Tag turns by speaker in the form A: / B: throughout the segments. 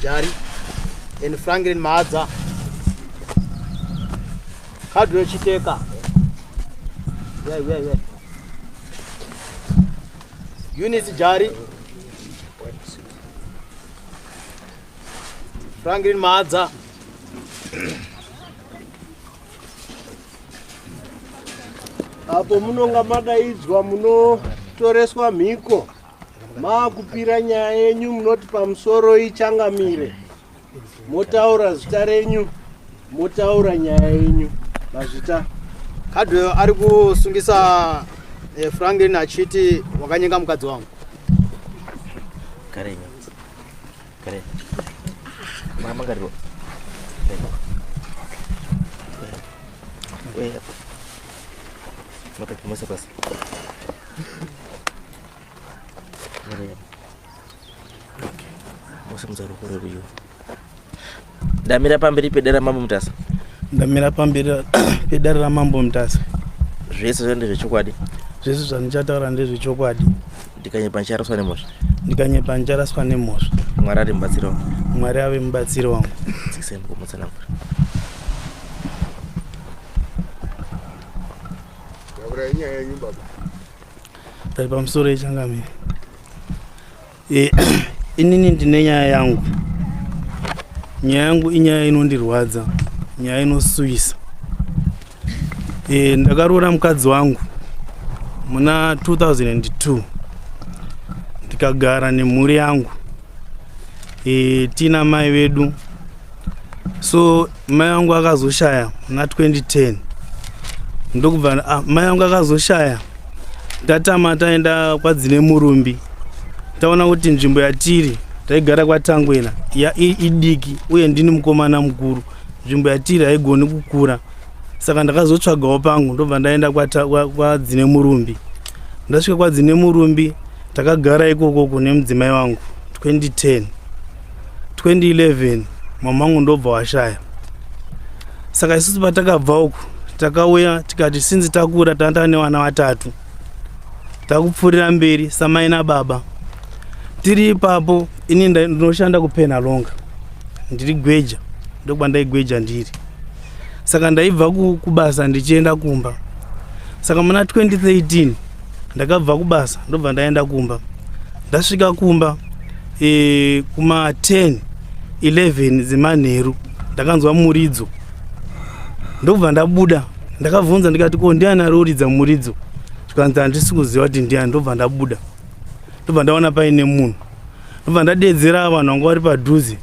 A: Jari and Franklin Maadza. Kadwe Chiteka. Yeah, yeah, yeah. Eunice Jari. Franklin Maadza.
B: apo munonga madaidzwa munotoreswa mhiko maakupira nyaya yenyu munoti pamusoro ichangamire motaura zita renyu motaura nyaya yenyu mazvita kadwe
A: ari kusungisa eh, franklin achiti wakanyenga mukadzi wangu kare
C: kare mama kare Wait. Mata kumasa pasi. ndamira pamberi pedera mambo mutasa ndamira
D: pamberi pedera ramambo mutasa zvese zva
C: ndezvechokwadi zvese zvandichataura
D: ndezvechokwadi ndikanyepa ndicharaswa
C: nemhosva ndikanyepa ndicharaswa
D: nemhosva mwari ari mubatsiri
C: wangu mwari ave mubatsiri
D: wangu dzikisai mukumutsanangura
B: Takurai nyaya yenyu
D: baba. Tari pamusoro yechangamire. Eh, inini ndine nyaya yangu. Nyaya yangu inyaya inondirwadza. Nyaya inosuwisa. Eh, ndakaroora mukadzi wangu muna 2002 ndikagara nemhuri yangu e, eh, tiina mai vedu so mai vangu akazoshaya muna 2010 ndokubva ah, mai vangu akazoshaya tatama taenda kwadzine murumbi taona kuti nzvimbo yatiri taigara kwatangwena ya idiki uye ndini mukomana mukuru nzvimbo yatiri haigoni kukura saka ndakazotsvagawo pangu ndobva ndaenda kwadzine murumbi ndasvika kwadzine murumbi takagara ikokoko nemudzimai wangu 2010 2011 mamangu ndobva washaya saka isusu patakabva uku takauya tikati sinzi takura tanda nevana vatatu takupfuurira mberi samai nababa tiri ipapo ini ndinoshanda kupenhalonga ndiri gweja ndokuba ndaigweja ndiri saka ndaibva kubasa ndichienda kumba saka muna 2013 ndakabva kubasa ndobva ndaenda kumba ndasvika kumba e, kuma 10 11 dzemanheru ndakanzwa muridzo ndokubva ndabuda ndakabvunza ndikati ko ndiani ari uridza muridzo zvikanzi handisi kuziva kuti ndiani ndobva ndabuda ndobva ndaona paine munhu ndobva ndadeedzera vanhu vanga vari padhuze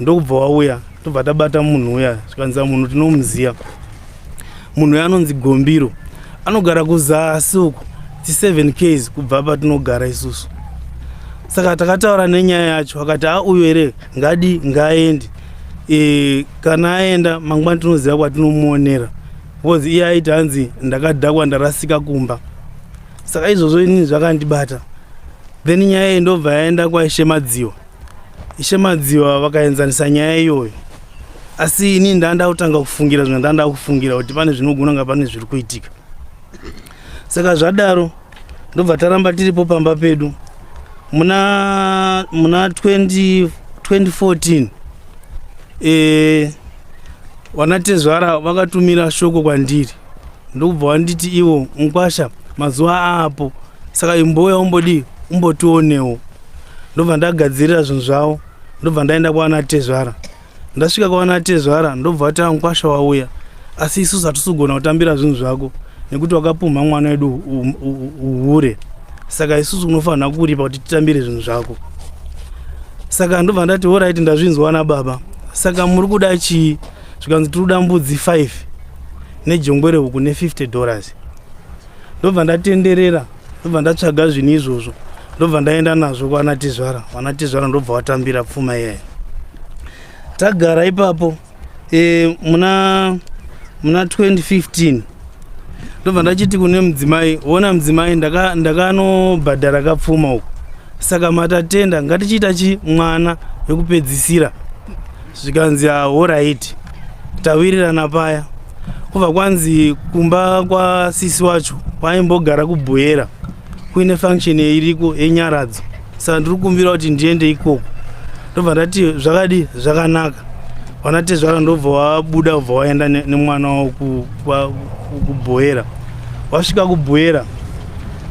D: ndokubva wauya tobva tabata munhu uya zvikanzira munhu tinomuziva munhu uya anonzi gombiro anogara kuzasi uku ti7 ks kubva patinogara isusu saka takataura nenyaya yacho akati auyo here ngadi ngaaendi e, kana aenda mangwani tinoziva kwatinomuonera bcause iye aiti hanzi ndakadhakwa ndarasika kumba saka izvozvo inini zvakandibata then nyaya iyi ndobva yaenda kwaishe madziwa ishe madziwa vakaenzanisa nyaya iyoyo asi inini ndanda kutanga kufungira zvimwe ndanda kufungira kuti pane zvinogona nga pane zviri kuitika saka zvadaro ndobva taramba tiripo pamba pedu muna muna 20, 2014 e, vanatezvara vakatumira shoko kwandiri ndokubva wanditi ivo mukwasha mazuva aapo saka imbouya umbodii umbotionewo ndobva ndagadzirira zvinhu zvavo ndobva ndaenda kwaana tezvara ndasvika kwaana tezvara ndobva vatava mukwasha wauya asi isusu hatisugona kutambira zvinhu zvako nekuti wakapumha mwana wedu uhure saka isusu unofanira kuripa kuti titambire zvinhu zvako saka ndobva ndati horaiti ndazvinzwa na baba saka muri kuda chii zvikanzi tinoda mbudzi 5 nejongwe rehuku ne50 dollars ndobva ndatenderera ndobva ndatsvaga zvinhu izvozvo ndobva ndaenda nazvo kwana tizvara wana tizvara ndobva watambira pfuma iyayo tagara ipapo e, muna muna 2015 ndobva ndachiti kune mudzimai ona mudzimai ndakanobhadhara ndaka kapfuma uku saka matatenda ngatichiita chi mwana wekupedzisira zvikanzi horaiti tawirirana paya kubva kwanzi kumba kwasisi wacho kwaimbogara kubhoyera kuine function iriko yenyaradzo saka ndiri kumbira kuti ndiende ikoko ndobva ndati zvakadi zvakanaka vana tezvara ndobva wabuda ubva waenda nemwana wavo kubhoyera wasvika kubhoyera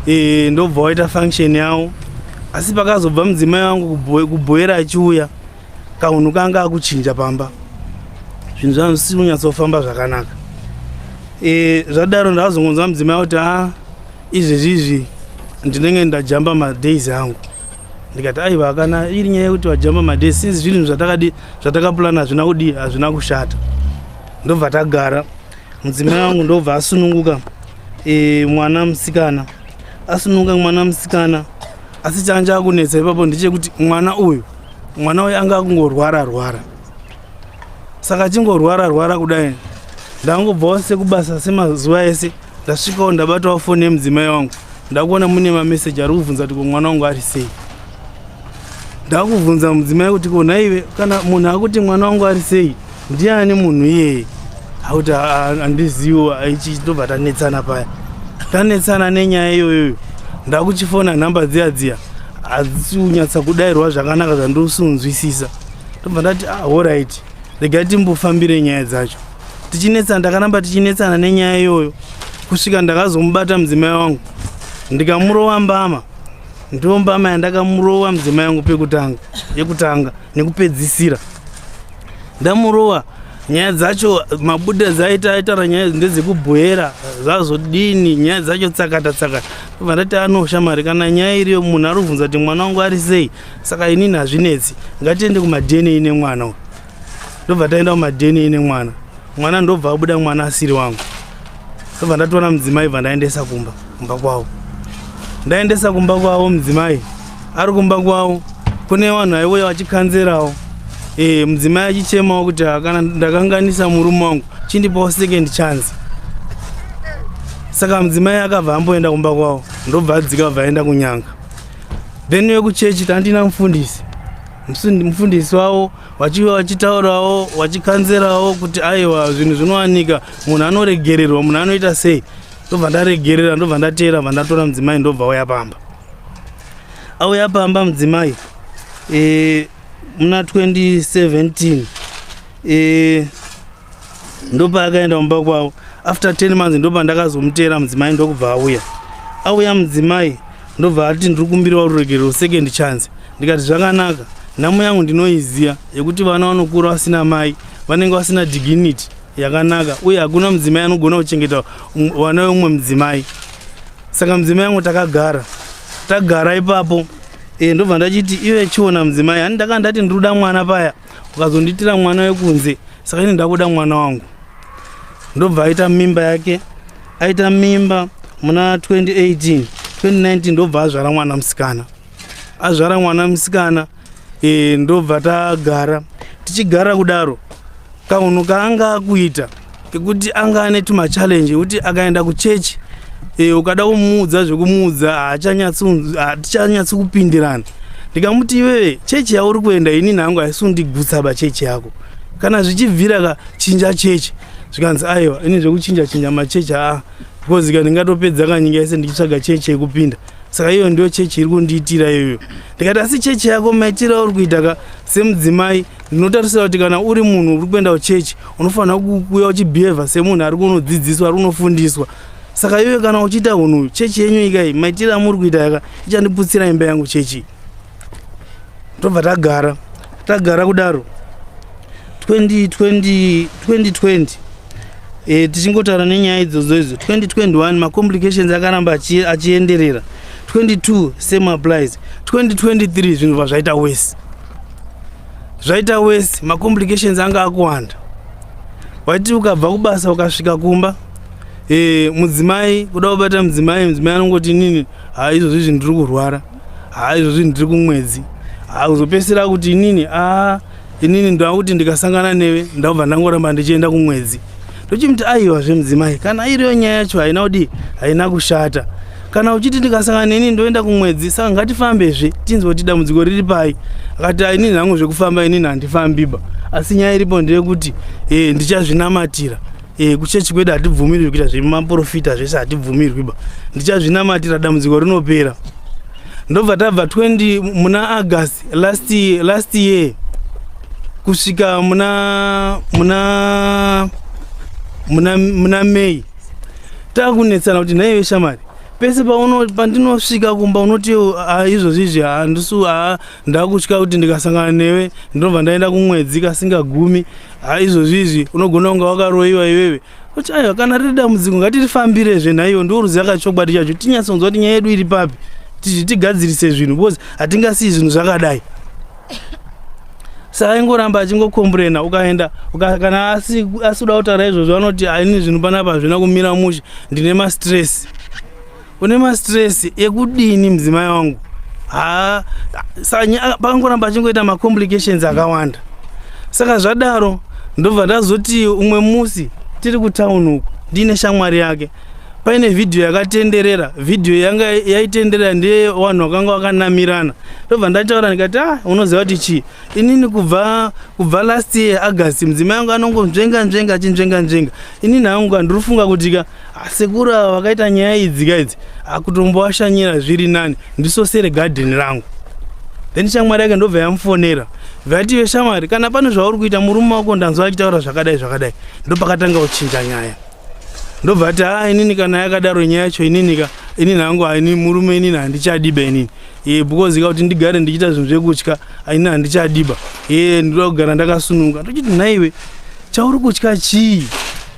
D: e, ndobva waita function yavo asi pakazobva mudzimai wangu kubhoyera achiuya kahunhu kanga akuchinja pamba zvinhu zvangu zvisiri kunyatsofamba zvakanaka e, zvadaro ndakazongonzwa mudzimai kuti a ah, izvezvi izvi ndinenge ndajamba madays angu ndikati aiva kana iri nyaya yekuti vajamba madays since zvinhu zvatakadi zvatakapulana hazvina kudii hazvina kushata ndobva tagara mudzimai wangu ndobva asununguka e, mwana musikana asununguka mwana musikana asi changa chakunetsa ipapo ndechekuti mwana uyu mwana uyu anga akungorwara rwara saka achingorwara rwara kudai ndangobvawo sekubasa semazuva ese ndasvikawo ndabatawo foni yemudzimai wangu ndakuona mune mameseji ari kuvhunza kuti ko mwana wangu ari sei ndakubvunza mudzimai kuti ko nhaive kana munhu akuti mwana wangu ari sei Ndiani munhu iyeye auti andiziwo ichi tobva tanetsana paya tanetsana nenyaya iyoyoyo ndakuchifona nhamba dziya dziya hadzisi kunyatsa kudairwa zvakanaka zvandosunzwisisa tobva ndati ah, horit regai timbofambire nyaya dzacho tichinetsana ndakaramba tichinetsana nenyaya iyoyo kusvika ndakazomubata mudzimai wangu ndikamurova mbama ndiwo mbama yandakamurova mudzimai wangu pekutanga yekutanga nekupedzisira ndamurova nyaya dzacho mabuda dzaita aitara nyaya ndedzekubhoera zvazodini nyaya dzacho tsakata tsakata obva ndati anosha mari kana nyaya iriyo munhu ari kubvunza kuti mwana wangu ari sei saka inini hazvinetsi ngatiende kumadna nemwana u ndobva taenda kumadna nemwana mwana ndobva abuda mwana asiri wangu ndobva ndatoona mudzimai bva ndaendesa kumba kumba kwavo ndaendesa kumba kwavo mudzimai ari kumba kwavo kune vanhu aiuya vachikanzerawo e, mudzimai achichemawo kuti kana ndakanganisa murume wangu chindipawo second chance saka mudzimai akabva amboenda kumba kwavo ndobva adzika vabva aenda kunyanga then vekuchechi tandina mufundisi mufundisi wavo vachiva vachitaurawo vachikanzerawo kuti aiwa zvinhu zvinowanika munhu anoregererwa munhu anoita sei ndobva ndaregerera ndobva ndateera bva ndatora mudzimai ndobva auya pamba auya pamba mudzimai e, muna 2017 e, ndopa akaenda kumba kwavo after 10 months ndopa ndakazomuteera mudzimai ndokubva auya auya mudzimai ndobva ati ndiri kumbirawo ruregerero second chance ndikati zvakanaka nhamo yangu ndinoiziva yekuti vana vanokura vasina mai vanenge vasina dignity yakanaka uye hakuna mudzimai anogona kuchengeta vana veumwe mudzimai saka mudzimai yangu takagara tagara ipapo e, ndobva ndachiti ive chiona mudzimai ani ndakanga ndati ndiruda mwana paya ukazondiitira mwana wekunze saka ini ndakuda mwana wangu ndobva aita mimba yake aita mimba muna 2018 2019 ndobva azvara mwana musikana azvara mwana musikana e, ndobva tagara tichigara kudaro kaunhu kaanga akuita kekuti anga ane tumachallenje ekuti akaenda kuchechi e, ukada kumuudza zvekumuudza hatichanyatsi kupindirana ndikamuti iwee chechi yauri kuenda ini nhangu haisi undigutsa pachechi yako kana zvichibvira ka chinja chechi zvikanzi aiwa ini zvekuchinja chinja machechi aa because ka ndingatopedza kanyika yese ndichitsvaga chechi yekupinda saka iyo ndiyo chechi iri kundiitira iyoyo ndikati asi chechi yako maitiro auri kuita ka semudzimai ndinotarisira kuti kana uri munhu uri kuenda kuchechi unofanira kuuya uchibehava semunhu ari kunodzidziswa ari kunofundiswa saka iyoyo kana uchiita unhu chechi yenyu ikai maitiro amuri kuita yaka ichandiputsira imba yangu chechi tobva tagara tagara kudaro 2020 2020 e, tichingotaura nenyaya idzodzo idzo 2021 macomplications akaramba achienderera 22 same applies 2023 zvinhu bva zvaita wese zvaita wese macomplications anga akuwanda waiti ukabva kubasa ukasvika kumba e, mudzimai kuda kubata mudzimai mudzimai anongoti nini ha izvozvi zvinhu tiri kurwara haa izvo zvinhu tiri kumwedzi haa kuzopedzisira kuti inini aa inini ndakuti ndikasangana newe ndakubva ndangoramba ndichienda kumwedzi ndochimuti aiwa zvemudzimai kana iriyo nyaya yacho haina kudii haina kushata kana uchiti ndikasangana neni ndoenda kumwedzi saka ngatifambezve tinzwe kuti dambudziko riri pai akati inini hangu zvekufamba inini handifambiba asi nyaya iripo ndeyekuti e ndichazvinamatira Eh, kuchechi kwedu hatibvumirwi kuita zvemaprofita zvese hatibvumirwi ba ndichazvinamatira dambudziko rinopera ndobva tabva 20 muna august last, last year kusvika muna muna muna, muna may takunetsana kuti nhaive shamari pese pandinosvika kumba unoti ah, izvozvi izvi handisu ah, ah, ndakutya kuti ndikasangana newe ndinobva ndaenda kumwedzi kasingagumi ha izvozvi izvi unogona kunge wakaroyiwa iwewe kuti aiwa kana riri dambudziko ngatirifambirezve nhaiwo ndo ruziva kachokwadi chacho tinyatsonzwa kuti nyaya yedu iri papi tizvi tigadzirise zvinhu because hatingasiyi zvinhu zvakadai saaingoramba achingokomburena ukaenda kana asikuda kutaura izvozvo anoti aini zvinhu panapa hazvina kumira mushe ndine mastress une mastress ekudini mudzimai wangu ha sanya ah, pakangoramba achingoita macomplications akawanda saka zvadaro ndobva ndazoti umwe musi tiri kutown uku ndiine shamwari yake paine vhidhiyo yakatenderera vhidhiyo yanga yaitenderera ndeye vanhu vakanga vakanamirana ndobva ndataura ndikati ah unoziva kuti chii inini kubva kubva last year august mudzimai wangu anongonzvenga nzvenga achinzvenga nzvenga inini hangu ka ndiri kufunga kuti ka asekuru ava vakaita nyaya idzi ka idzi akutomboashanyira zviri nani ndisosere gadheni rangu then shamwari yake ndobva yamufonera vative shamwari kana pane zvauri kuita murume wako ndanzwa achitaura zvakadai zvakadai ndopakatanga kuchinja nyaya ndobva ati ha ah, inini kana yakadaro nyaya yacho inini ka inini hangu haini murume inini handichadiba inini e, because ka kuti ndigare ndichiita zvinhu zvekutya inini handichadiba e, ndinoda kugara ndakasunuka tochiti nhaiwe chauri kutya chii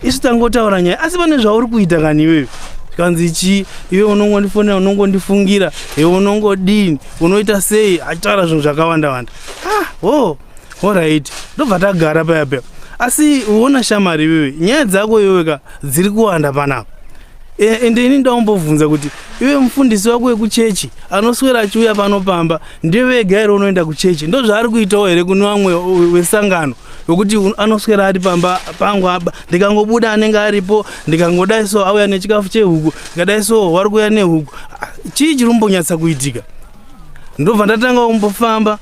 D: isu tangotaura nyaya asi pane zvauri kuita kani iwewe zvikanzi chii iwe unongondifonera unongondifungira e unongodini unoita sei achitaura zvinhu zvakawanda wanda ah, oh, orit ndobva tagara paya paya asi uona shamari iwewe nyaya dzako iwewe ka dziri kuwanda panapa Eh, ende ini ndaumbovhunza kuti iwe mufundisi wako wekuchechi anoswera achiuya pano pamba ndiye vega here unoenda kuchechi ndozvaari kuitawo here kune vamwe wesangano wekuti anoswera ari pamba pangu aba ndikangobuda anenge aripo ndikangodai so auya nechikafu chehuku ndikadai so wari kuuya nehuku ah, chii chiri kumbonyatsa kuitika ndobva ndatanga kumbofamba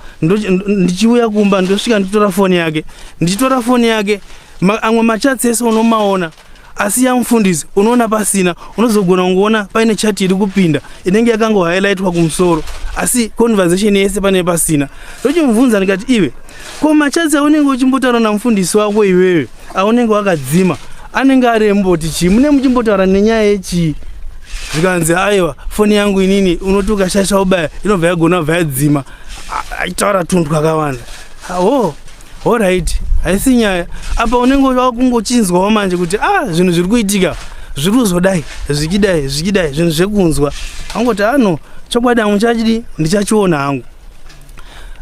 D: ndichiuya kumba ndosvika ndichitora foni yake ndichitora foni yake amwe machatsi ese unomaona asi yamufundisi unoona pasina unozogona kungoona paine chati iri kupinda inenge yakango highlightwa kumusoro asi conversation yese pane pasina ndochimubvunza ndikati iwe ko machats aunenge uchimbotaura namufundisi wako iwewe aunenge wakadzima anenge ari emboti chii mune muchimbotaura nenyaya yechii zvikanzi aiwa foni yangu inini unoti ukashasha ubaya inobva yagona bva yadzima aitaura tunhu twakawanda awo oh. Alright, haisi nyaya. Apa unenge wakungochinzwawo manje kuti ah zvinhu zviri kuitika zviri kuzodai zvikidai zvikidai zvinhu zvekunzwa. Angoti ano ah, chokwadi hangu chachidi ndichachiona hangu.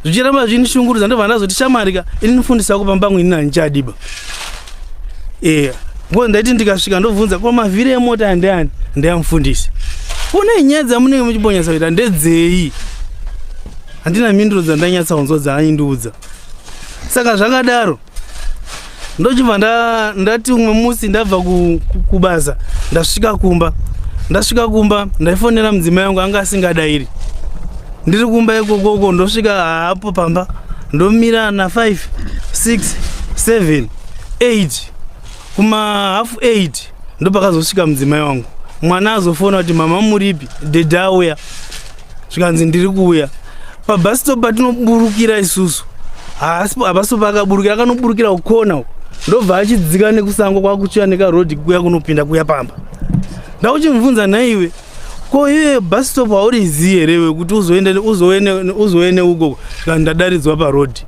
D: Zvichiramba zvini shungurudza ndobva ndazoti shamarika ini nifundisa kupa mbangu ini nani chadiba. Eh, ngo ndaiti ndikasvika ndobvunza ko mavhiri emota andiani ndiyamfundisi. Kune nyaya dzamunenge muchibonyesa kuita ndedzei? Handina mhinduro dzandanyatsa kunzwa dzaanyi ndiudza. saka zvakadaro ndochibva ndati umwe musi ndabva kubasa ndasvika kumba ndasvika kumba ndaifonera mudzimai wangu anga asingadairi ndiri kumba ikokoko ndosvika haapo pamba ndomira na 5 6 7 8 kuma half 8 ndopakazosvika mudzimai wangu mwana azofona kuti mama muripi dede auya zvikanzi ndiri kuuya pabhasitop patinoburukira isusu hapasitop pakaburukira akanoburukira kukona uko ndobva achidzika nekusango kwakuchiya nekarodi kuya kunopinda kuya pamba ndakuchimubvunza nhaiwe ko iye bus stop haurizivi here wekuti uzowe neuko kana ndadaridzwa parodi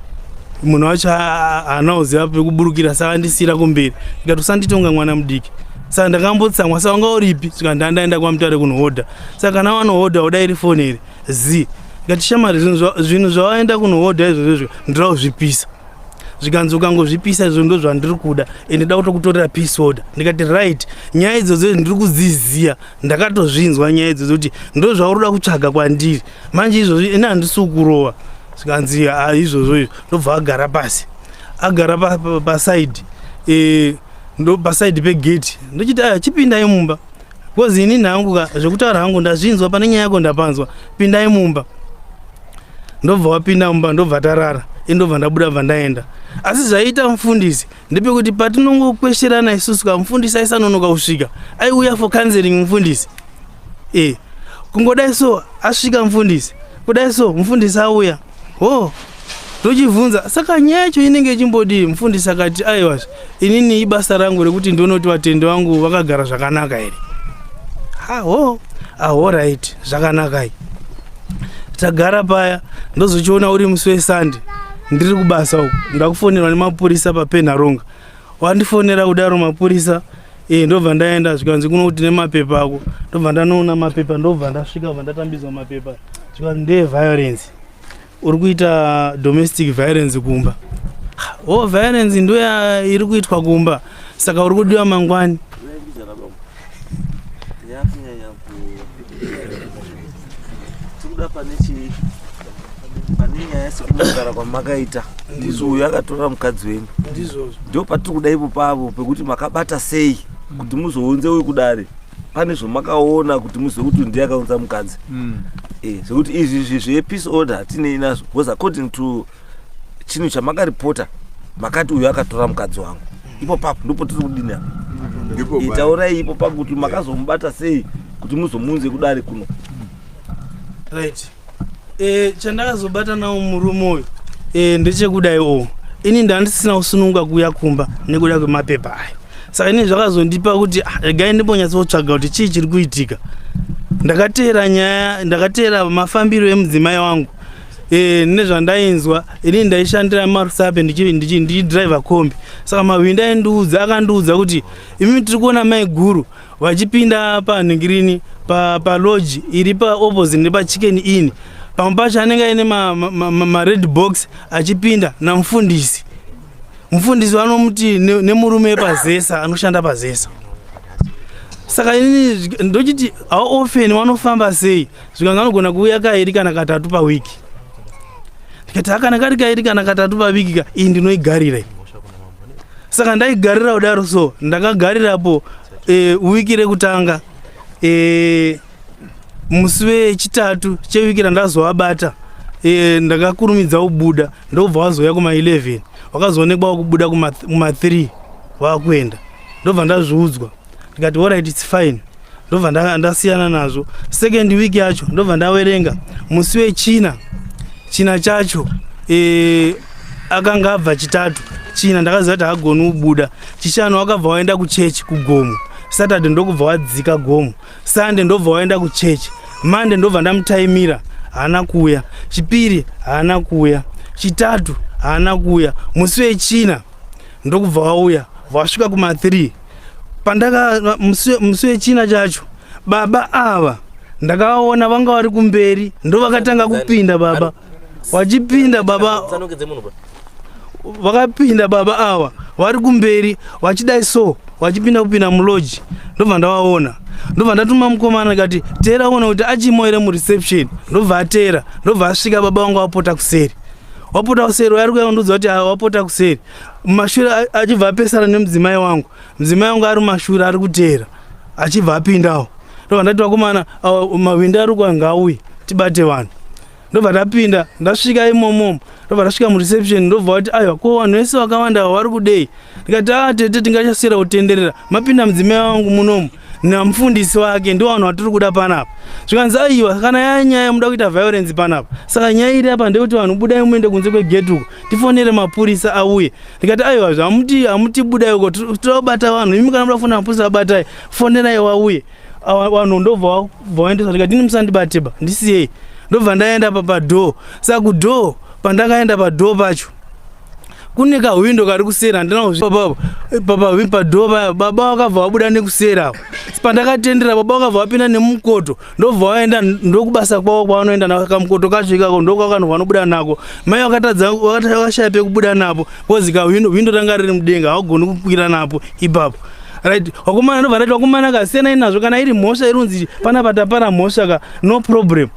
D: munhu wacho haana kuziva pekuburukira saka ndisiira kumberi ikati usanditonga mwana mudiki saka ndakambotsamwa saka wanga uripi saka ndandaenda kwamutare kunohodha saka kana wanohodha uda iri foni here zi ikati shamari zvinhu zvawaenda kunohodha izvozvo izvo ndira kuzvipisa zvikanzi ukangozvipisa izvo ndo zvandiri kuda ende da kutokutorera peace order ndikati right nyaya idzodzo ndiri kudziziva ndakatozvinzwa nyaya idzodzo kuti ndo zvauri uda kutsvaga kwandiri manje izvozvi ini handisi kurova zvikanzi ah, izvozvo izvo ndobva agara pasi agara pasaidi eh, ndo pasaidi pegeti ndochiti aya ah, chipindai mumba bcause ini nhangu ka zvekutaura hangu ndazvinzwa pane nyaya yako ndapanzwa pindai mumba ndobva wapinda mumba ndobva tarara indobva ndabuda bva ndaenda asi zvaiita mufundisi ndepekuti patinongokwesherana isusu ka mufundisi aisanonoka kusvika aiuya for counseling mufundisi e kungodai so asvika mufundisi kudai so mufundisi auya ho oh, ndochibvunza saka nyaya yacho inenge ichimbodii mufundisi akati aiwa inini ibasa rangu rekuti ndonoti vatendi vangu vakagara zvakanaka here haho ahorit zvakanakai tagara paya ndozochiona uri musi wesande ndiri kubasa uku ndakufonerwa nemapurisa papenharonga wandifonera kudaro mapurisa e, ndobva ndaenda zvikanzi kuno kuti nemapepa ako ndobva ndanoona mapepa ndobva ndasvika bva ndatambidzwa mapepa zvikanzi ndeye violence uri kuita domestic violence kumba o oh, violence ndoya iri kuitwa kumba saka uri kudiwa mangwani yakunyanya ku
C: tikuda pane chii pane nyaya sekunogara kwamakaita ndizvo uyu akatora mukadzi wenyu ndizvozvo ndo patiri kuda ipo pavo pekuti makabata sei kuti muzounze uyu kudare pane zvamakaona kuti muzive kuti ndiye akaunza mukadzi mm. e, eh, zvekuti izvi zvezvepeace order hatinei nazvo because according to chinhu chamakaripota makati uyo akatora mukadzi wangu ipo papo ndipo tiri kudini apa itaurai ipo papo kuti makazomubata sei kuti muzomunze kudari kuno
D: right e, chandakazobata nawo murume uyu e, ndechekudai o ini ndandisina kusununga kuuya kumba nekuda kwemapepa ayo saka ini zvakazondipa kuti ah, regai ndimbonyatsotsvaga kuti chii chiri kuitika ndakateera nyaya ndakateera mafambiro emudzimai wangu e, nezvandainzwa ini ndaishandira marusape ndichidriver kombi saka mahwindi aindiudza akandiudza kuti imi tiri kuona maiguru vachipinda panhingirini paloji pa iri paopposite nepachicken in pamwe pacho anenge aine mared ma, ma, ma box achipinda namufundisi mufundisi vanomuti nemurume ne pazesa anoshanda pazesa saka ini ndochiti how often vanofamba sei zvikanzi anogona kuuya kairi kana katatu pawiki ndikati akana kari kairi kana katatu paviki ka iyi ndinoigarira saka ndaigarira kudaro so ndakagarirapo e, wiki rekutanga e, musi wechitatu chewiki randazovabata e, ndakakurumidza kubuda ndobva wazouya kuma 11 wakazoonekwa wakubuda kuma 3 wakuenda ndobva ndazviudzwa ndikati orit its fine ndobva ndasiyana nazvo second week yacho ndobva ndawerenga musi wechina china chacho e, akanga abva chitatu china ndakaziva kuti hagoni kubuda chishanu wakabva waenda kuchechi kugomo saturday ndokubva wadzika gomo sunday ndobva waenda kuchechi monday ndobva ndamutaimira haana kuuya chipiri haana kuuya chitatu haana kuuya musi wechina ndokubva wauya wasvika kuma 3 pandaka musi wechina chacho baba ava ndakaona vanga vari kumberi ndo vakatanga kupinda baba vachipinda baba vakapinda baba ava vari kumberi vachidai so vachipinda kupinda muloji ndobva ndavaona ndobva ndatuma mukomana ndikati teera ona kuti achimo here mureception ndobva ateera ndobva asvika baba vanga vapota kuseri wapota kuseri wayari kuya undiudza kuti wapota kuseri mumashure achibva apesana nemudzimai wangu mudzimai wangu ari mumashure ari kuteera achibva apindawo ndobva ndati vakomana mawindi ari kwa ngauye tibate vanhu ndobva ndapinda ndasvika imomomo ndobva ndasvika mureception ndobva wati aiwa ko vanhu vese vakawanda ava vari kudei ndikati a ah, tete tingachasiyira kutenderera mapinda mudzimai wangu munomu namufundisi wake ndo vanhu vatiri kuda panapa zvikanzi aiwa kana yaya nyaya muda kuita violence panapa saka nyaya iri apa ndeyekuti vanhu budai muende kunze kwegeti uko tifonere mapurisa auye ndikati aiwa zvamuti amuti budai uko tobata vanhu imi kana muda kufonera mapurisa abatai fonerai wauye vanhu ndobva vaendesa ndikati ini musandibateba ndisiyei ndobva ndaenda papadhoo saka kudhoo pandakaenda padhoo pacho kune kahwindo kari kuseri handinapapa padhoo paya baba vakabva vabuda nekuseri apo pandakatendera baba vakabva vapinda nemukoto ndobva waenda ndokubasa kwavo kwavanoenda nako kamukoto kacho ikako ndokwakanhu vanobuda nako mai vakatadza vakashaya pekubuda napo bcoz ka hwindo ranga riri mudenga haugoni kukwira napo ipapo right wakomana ndobva rati wakomana ka siyanai nazvo kana iri mhosva irunzi panapa tapara mhosva ka no problem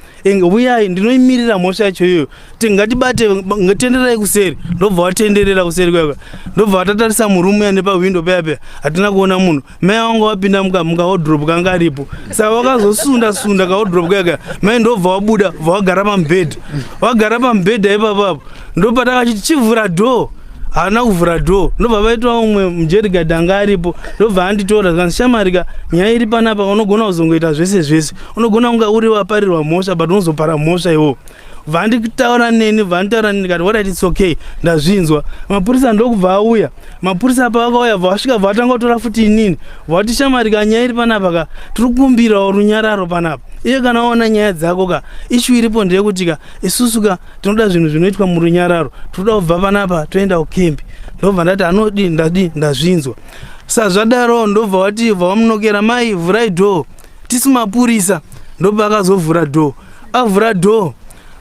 D: uyai ndinoimirira mhosva yacho iyoyo tingatibate tenderai kuseri ndobva watenderera kuseri kwaka ndobva watatarisa murumu ya nepahwindo paya paya hatina kuona munhu mai vanga wapinda mukamuka wodrop kanga aripo saka wakazosunda sunda kawodrop kaka mai ndobva wabuda bva wagara pamubhedha wagara pamubhedha ipapapo ndopatakachiti chivhura door haana kuvhura door ndobva vaitwa umwe mujerigad anga aripo ndobva anditora zvikanzi shamarika nyaya iri panapa unogona kuzongoita zvese zvese unogona kunga uri waparirwa mhosva but unozopara mhosva iwo vandi kutaura neni vanitaura neni kati wadaiti its okay ndazvinzwa mapurisa ndokubva auya mapurisa pavakauya vasvika vatanga kutora futi inini vati shamari ka nyaya iri panapa ka tiri kukumbirawo runyararo panapa iye kana waona nyaya dzako ka ishu iripo ndeyekuti ka isusu ka tinoda zvinhu zvinoitwa murunyararo tinoda kubva panapa toenda kukembi ndobva ndati anodii ndadii ndazvinzwa sazvadaro ndobva wati bva wamunokera mai vhurai dhoo tisu mapurisa ndobva akazovhura door avhura door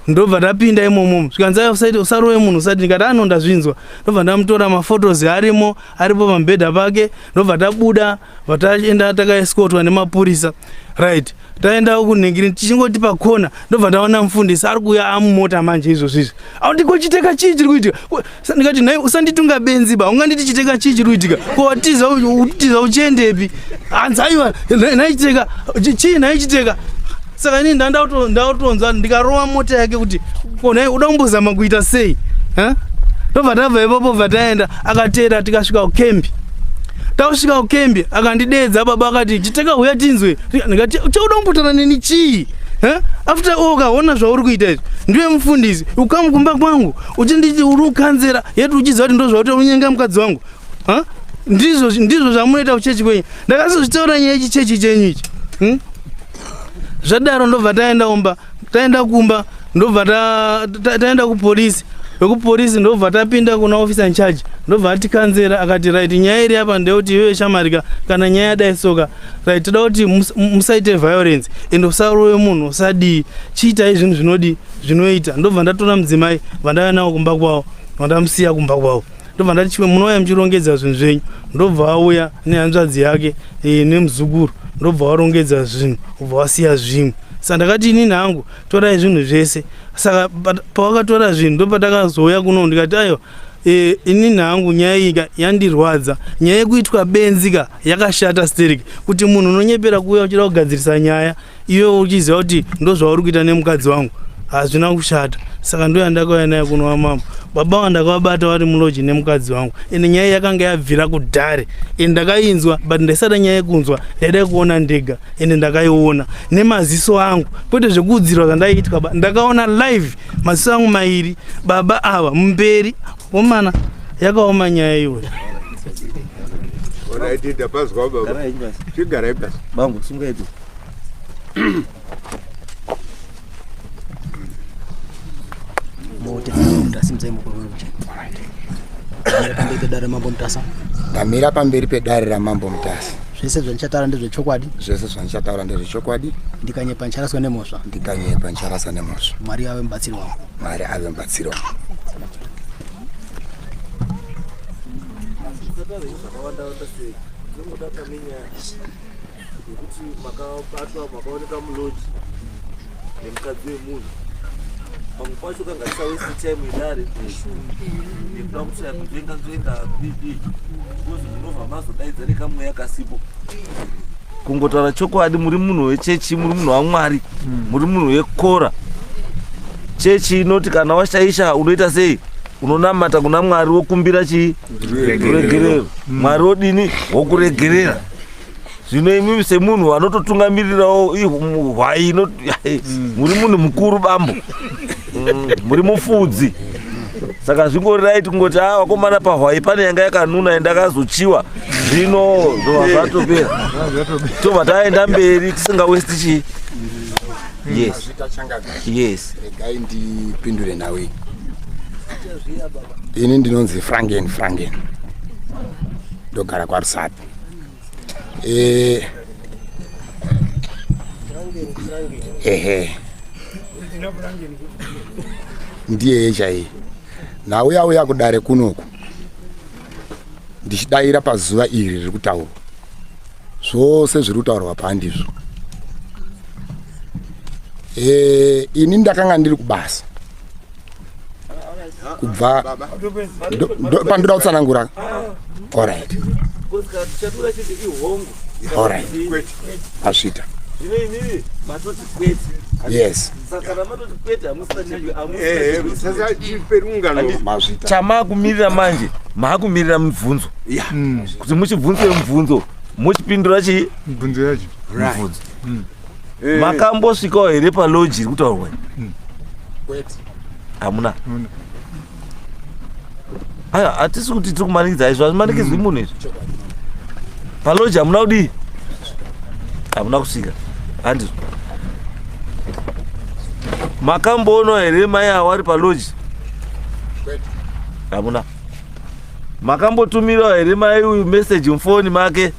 D: ndobva ndapinda imomo zvikanzi usarowe munhu usati ndikati ano ndazvinzwa ndobva ndamutora mafotos arimo aripo pamubhedha pake ndobva tabuda vataenda takaeskotwa nemapurisa right taenda kunhingiri tichingoti pakona ndobva ndaona mufundisi ari kuuya amumota manje izvozvizvi aundikochiteka chii chiri kuitika ndikati nhai usanditunga benzi ba unganditi chiteka chii chiri kuitika kotiza utiza uchiendepi hanzi aiwa nhai chiteka chii nhai chiteka saka ini ndautonzwa ndikarova mota yake kuti ko nhai uda kumbozama kuita sei tobva tabva ipapo bva taenda akateera tikasvika kukembi tausvika kukembi akandideedza baba akati chiteka huya tinzwe ndikati uchauda kumbotana neni chii after all ukaona zvauri kuita izvi ndiwe mufundisi ukamukumba kwangu uchinditi uri ukanzera yeti uchiziva kuti ndozvakuita unyenga mukadzi wangu ndizvo ndizvo zvamunoita kuchechi kwenyu ndakazozvitaura nyaya ichi chechi chenyu ichi hmm? zvadaro ndobva taenda umba taenda kumba ndobva taenda kupolisi vekupolisi ndobva tapinda kuna officer in charge ndobva atikanzera akati right nyaya iri apa ndeyekuti iyoyo shamarika kana nyaya yadai soka right toda kuti musaite violence and usarowe munhu usadii chiitai zvinhu zvinodii zvinoita ndobva ndatora mudzimai vandauya nawo kumba kwavo vandamusiya kumba kwavo ndobva ndati chimwe munouya muchirongedza zvinhu zvenyu ndobva auya nehanzvadzi yake e, nemuzukuru ndobva warongedza zvinhu ubva wasiya zvimwe saka ndakati inini hangu torai zvinhu zvese saka pawakatora zvinhu ndopatakazouya kuno ndikati ayo e, ini nhangu nyaya iyika yandirwadza nyaya yekuitwa benzi ka yakashata sterek kuti munhu unonyepera kuuya uchida kugadzirisa nyaya iwe uchiziva kuti ndozvauri kuita nemukadzi wangu hazvina kushata saka ndo yandakauya naye kunova mambo baba vangu ndakavabata vari muloji nemukadzi wangu ende nyaya yakanga yabvira kudhare ende ndakainzwa but ndaisada nyaya yekunzwa ndaida kuona ndega ende ndakaiona nemaziso angu kwete zvekuudzirwa zvandaiitwa ba ndakaona live maziso angu mairi baba ava mberi omana yakaoma nyaya iyoyo What
B: I did, I passed over. Chigarai basi. Bangu, sunga yetu.
E: ndamira pamberi pedare ramambo mutasa zvese zvandichataura
A: ndezvechokwadi zvese zvandichataura
E: ndezvechokwadi ndikanyepa ndicharaswa
A: nemhosva ndikanyepa ndicharasa
E: nemhosva mwari ave mubatsiri wangu
A: mwari ave mubatsiri
E: wangu Thank you.
C: Nekuti makabatwa makaoneka muloji nemukadzi wemunhu pamwe pacho kangasa wese time idare nekuda kuti akutenga nzoenda bb because munobva mazodaidza nekamweya kasipo kungotaura chokwadi muri munhu wechechi muri munhu wamwari hmm. muri munhu wekora chechi inoti kana washaisha unoita sei unonamata kuna mwari wokumbira chii ruregerero hmm. mwari wodini wokuregerera zvino imimi semunhu anototungamirirawo hwai mm. muri munhu mukuru bambo mm, muri mufudzi saka zvingori right kungoti a ah, wakomana pahwai pane yanga yakanuna ende akazochiwa zvino zvova zvatopera tobva taenda mberi tisingawesti chii yes yes regai
E: ndipindure nhau iyi ini ndinonzi frangen frangen ndogara kwarusati eh ehe ndiyeye chaiye nauya uya kudare kunoku ndichidaira pazuva iri riri kutaurwa zvose zviri kutaurwa pandizvo e, eh, ini ndakanga ndiri kubasa kubva pandoda kutsanangura orit orit
C: asvita
E: yes
B: chamaakumirira
E: manje
C: maakumirira mibvunzo kuti muchibvunzei mubvunzo mochipindura chii mibvunzo yacho
B: mibvunzo
C: mm. Eh. makambosvikawo here paloji iri kutaurwa hmm. hamuna aya hatisi kuti tiri kumanikidza izvo hazvimanikidzwi hmm. munhu izvi paloji hamuna kudii hamuna kusvika handizvo makamboonwa here mai awo ari paloji hamuna makambotumirawo here mai uyu meseji mufoni make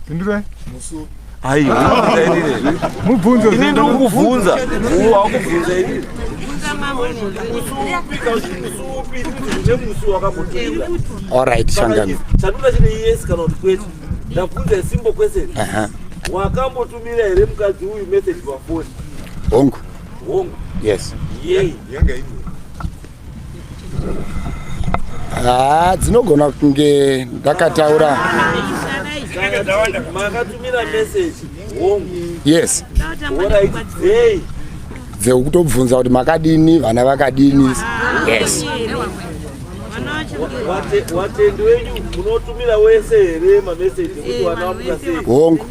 B: pindurai mubvunzo ini ndiri kukubvunza
C: wakubvunza ini Alright,
E: Shangani. Chanduda chine yes
C: kana kuti kwete. Ndabvunza isimbo kwese. Aha. Wakambotumira here mukadzi uyu message pafoni? Hongu.
E: Hongu.
C: Yes.
E: Yei. Yanga
C: ini.
E: haa dzinogona kunge ndakataura
C: makatumira message hongu yes
E: orit
C: dzei dzekutobvunza
E: kuti makadini vana vakadini yes
C: Wate- watendi wenyu munotumira wese here mameseji ekuti vana vamuka sei hongu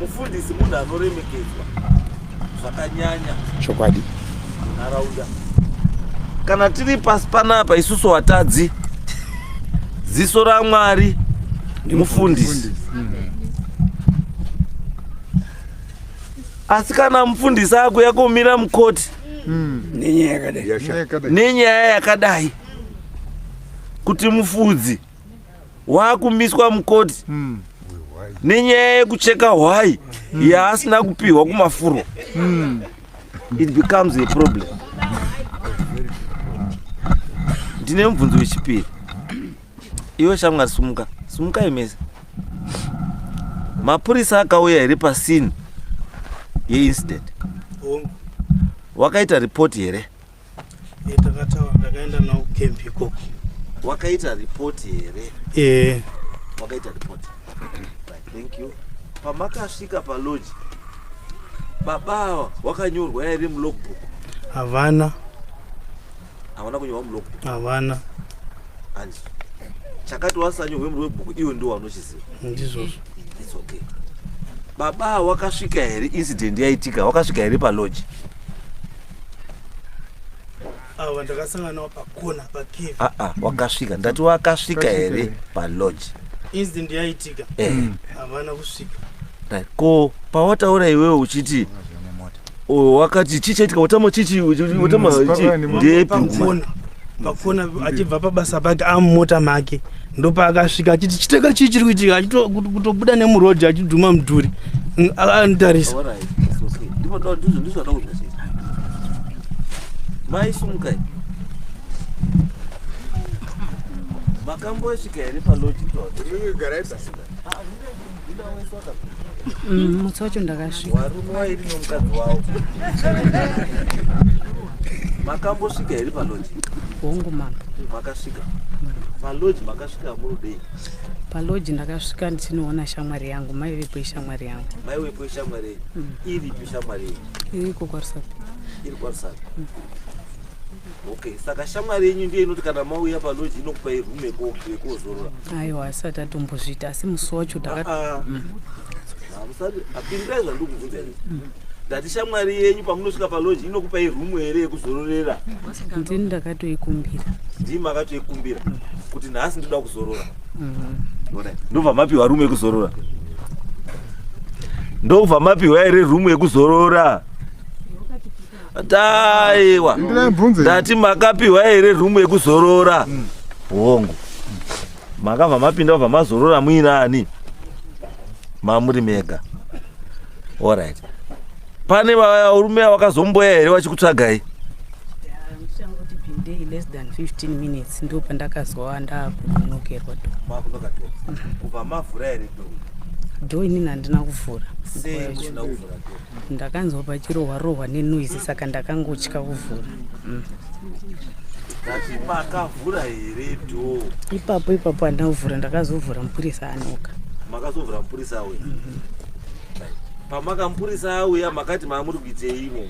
C: mufundisi munhu anoremekedzwa zvakanyanya chokwadi
E: munharaunda
C: kana tiri pasi panapa isusu watadzi ziso ramwari mufundisi asi kana mufundisi akuya kumira mukoti hmm. nenyaya yakadai kuti mufudzi waakumiswa mukoti mm. nenyaya yekucheka hwai mm. yaasina kupihwa kumafuro mm. it becomes a problem ndine mubvunzo wechipiri iwe shamwari sumuka sumukai mese mapurisa akauya here pasini yeincident wakaita ripoti here e, takataura ndakaenda
D: nawo kukempi ikoko wakaita
C: ripoti here e. wakaita ripoti thank you pamakasvika paloji baba awa wakanyorwa yairi mulogbook havana havana kunyorwa mulogbook havana
D: and
C: chakati wasanyorwe mulogbook iwe ndiwo wanochiziva ndizvozvo
D: its okay
C: baba wakasvika here incident yaitika wakasvika here paloji
D: ava ndakasangana nawo pakona pacave aa ah, ah, wakasvika ndati
C: wakasvika here palodge incident
D: yaitika eh. hmm. havana kusvika ko
C: pawataura iwewe uchiti oh, wakati chii chaitika watama chichi watama hmm, ndepi
D: pakona achibva pabasa pake amumota make ndopaakasvika achiti chiteka chii chiri kuitika kutobuda nemuroad achidhuma mudhuri anotarisa
C: maisumukai makambosvika here paloji
F: Mm, mutsi wacho ndakasvika varume vairi nomukadzi
C: wavo makambosvika here paloji hongu mama
F: makasvika
C: paloji makasvika murudei paloji
F: ndakasvika ndichinoona shamwari yangu maivepo ishamwari yangu maiwepo ishamwari
C: yenyu iripi shamwari yenyu iriko kwarusapi
F: iri kwarusapi
C: okay saka shamwari yenyu ndiye inoti kana mauya paloji inokupa irume yekozorora aiwa asati
F: atombozviita asi musi wacho apindirai
C: zvandikubvunza ndati shamwari yenyu pamunosvika paloji inokupa irumu here yekuzororera ndini
F: ndakatoikumbira ndii
C: makatoikumbira kuti nhasi ndoda kuzorora mhm. ndobva mapiwa rumu yekuzorora ndobva mapiwa here rumu yekuzorora Taiwa. Ndati makapiwa here room yekuzorora? Mm. Hongu. Makava mapinda vabva mazorora muinani. Mamuri mega. All right. Pane varume vakazomboya here vachikutsvagai? day less
F: than 15 minutes ndo pandakazowa ndakunokerwa do makunoka do
C: kubva mavhura here do do inini
F: handina kuvhura sei musina kuvhura do
C: Ndakanzwa
F: pachirohwa rohwa nenoise saka ndakangotya kuvhura. Mm.
C: Makavhura here door? Ipapo ipapo handina
F: kuvhura ndakazovhura mupurisa anoka. Makazovhura mupurisa
C: auya. Mm -hmm. Pamakamupurisa auya makati maamuri kuitei imo?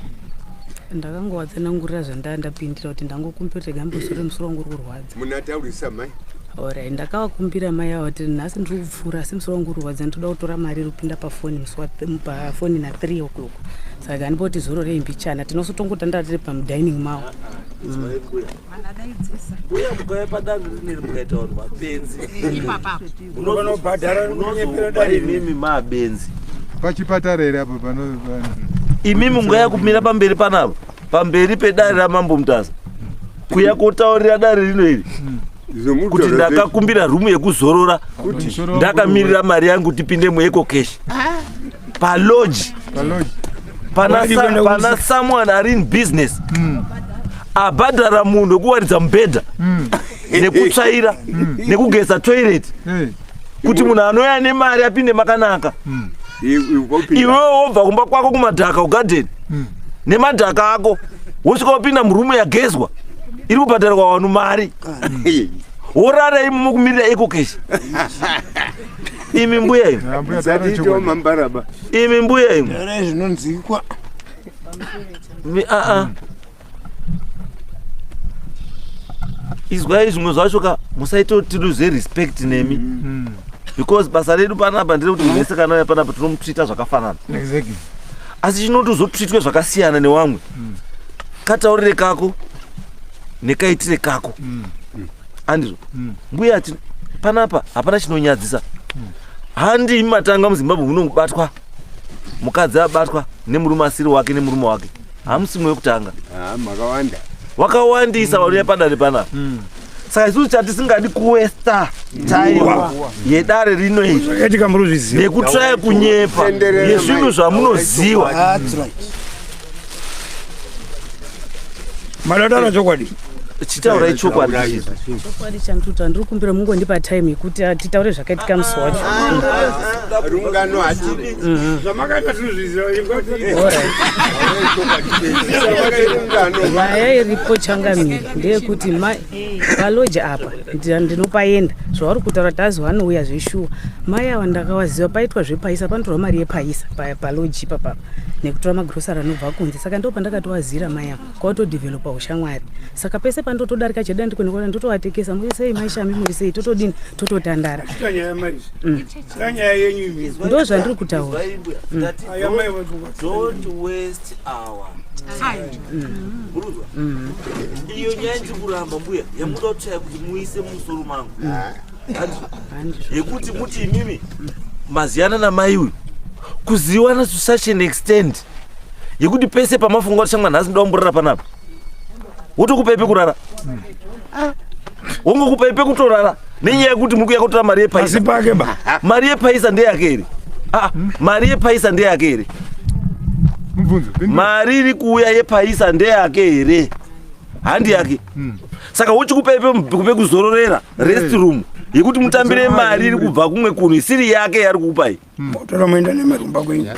F: Ndakangovatsanangurira zvandandapindira kuti ndangokumbira kuti gambosore musoro wangu uri kurwadza. munataurisa mai
B: orai
F: ndakavakumbira mai avo kuti nhasi ndiri kupfuura asi musoro wangu urwadza nditoda kutora mari iri kupinda pafoni pafoni na three o'clock saka andipoti zoro rei mbichana tinosotongotandaa tiri pamudining mavo
C: uya mukauya padanho rineri mukaita vanhu mapenzi imimi mabenzi pachipatara
B: here apo pano imimi
C: mungaya kumira pamberi panavo pamberi pedare ramambo mutaza kuya kotaurira dare rino iri kuti ndakakumbira rumu yekuzorora ndakamirira mari yangu tipinde mueco cash paloji pana someone ari in business hmm. abhadhara munhu wekuwaridza mubhedha hmm. nekutsvaira hmm. nekugeza toilet kuti munhu anouya ane mari apinde makanaka hmm. iwewe wobva kumba kwako kumadhaka ugadeni hmm. nemadhaka ako wosvika wapinda murume yagezwa iri kubhadharwa wanu mari hmm. worara imi mukumirira ekokeshi imi mbuya imi imi mbuya imi zvinonzikwa
E: ah, ah.
C: izwai zvimwe zvacho ka musaita kuti tiluze respect nemi mm. mm. because basa redu panapa ndere kuti munhu wese kana uya panapa tinomutreata zvakafanana exactly. asi chinoti uzotreatwe zvakasiyana newamwe mm. kataurire kako nekaitire kako mm. mm. andizvo mm. mbuya ati panapa hapana chinonyadzisa mm. handimi matanga muzimbabwe munobatwa mukadzi abatwa nemurume asiri wake nemurume wake hamusi mwe wekutanga ah, makawanda
B: wakawandisa
C: vanouya mm. padare panapa mm. saka isusu chatisingadi kuwesta taiwa yedare rino iri nekutraya kunyepa yezvinhu zvamunoziwa
G: madadara chokwadi chitaura ichokwadi
C: chokwadi
F: chandiuta ndiri kumbira mungondipa time yekuti titaure zvakaitika musi wacho
B: rungano hatidi mhm. zvamakaita
G: tinozvizivaaya
F: iripo changamire ndeyekuti mai valoji apa ndinopaenda zvavari kutaura tazi vanouya zveshuwa mai ava ndakavaziva paitwa zvepaisa panotorwa mari yepaisa paloji ipapapa nekutora magrosari anobva kunze saka ndo pandakatoazira maya kwautodevelopa ushamwari saka pese pandotodarika cheda ndikunikona ndotovatekesa murisei maishami murisei totodini tototandara
G: mm. ndo zvandiri kutaura
F: mm. mm.
C: iyo nyaya ndiri kuramba mbuya yamuda kutshaya kuti muise mumusoro mangu yekuti muti imimi maziyana namai uyu kuziwana to such an extent yekuti pese pamafunga kuti shamwana nhasi ndoda kumborara panapa wotokupa ipe kurara ah. wongokupa ipe kutorara nenyaya yekuti muri kuya kutora mari yepaisa mari yepaisa ndeyake here ah, mari yepaisa ndeyake here mari iri kuuya yepaisa ndeyake here handi yake hmm. saka uchi kupepe kupe kuzororera rest eh. room yekuti mutambire mari iri kubva kumwe kunhu isiri yake yari kukupai hmm. motora moenda nemari
G: kumba kwenyu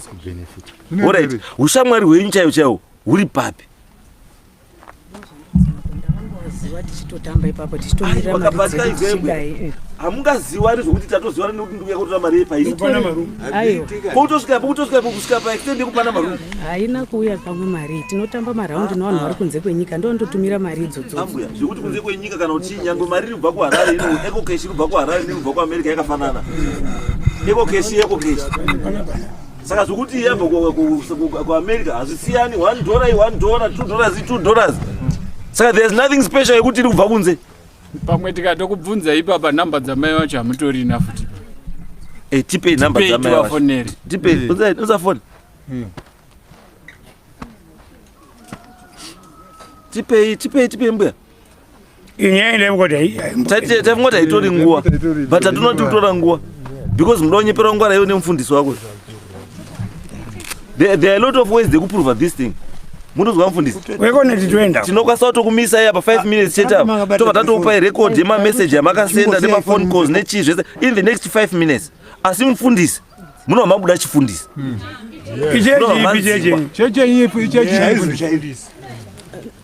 G: orit
C: ushamwari hwenyu chaiwo chaiwo huri papi
F: hamungaziwani
C: zvokuti tatoziwani nekuti ndikuya kutora mari yepaiiarume Aiwa. Poutosvika poutosvika pokusvika pa extend yekupana marungu. Haina kuuya pamwe
F: mari. Tinotamba maraundi ah, nevanhu ah. vari kunze kwenyika ndondotumira mari idzodzo. Ambuya, zvekuti kunze kwenyika
C: kana kuti nyangwe mari inobva kuHarare ino eco cash inobva kuHarare inobva kuAmerica yakafanana. Eco cash eco cash. Saka zvekuti yabva kuAmerica hazvisiyani 1 dollar 1 dollar 2 dollars 2 dollars. Saka there's nothing special yekuti iri kubva kunze. pamwe
H: tikatokubvunza ipapa nhamba dzamai vacho hamutorina futi Eh, tipei
C: nhamba Tipei dzamai vacho. tivafonere. Tipei, Eh. unza- unza phone. Tipei, tipei, tipei mbuya. inyaya ndevukoti Tati- tavingoti haitori nguva but hatinoti kutora nguva because muda wonyepera ngwara iwe nemufundisi wako There, there are a lot of ways dzekuprova this thing munonzwa mufundisi wekoneti toenda
G: tinokwanisa kutokumisa iya
C: pa 5 minutes chete apa tobva tatokupai record yemameseji yamakasenda nemaphone calls nechii zvese in the next 5 minutes asi mufundisi munova mabuda chifundisi hmm. ichechi ipi chechi chechi ipi ichechi
B: chaizvo chaizvo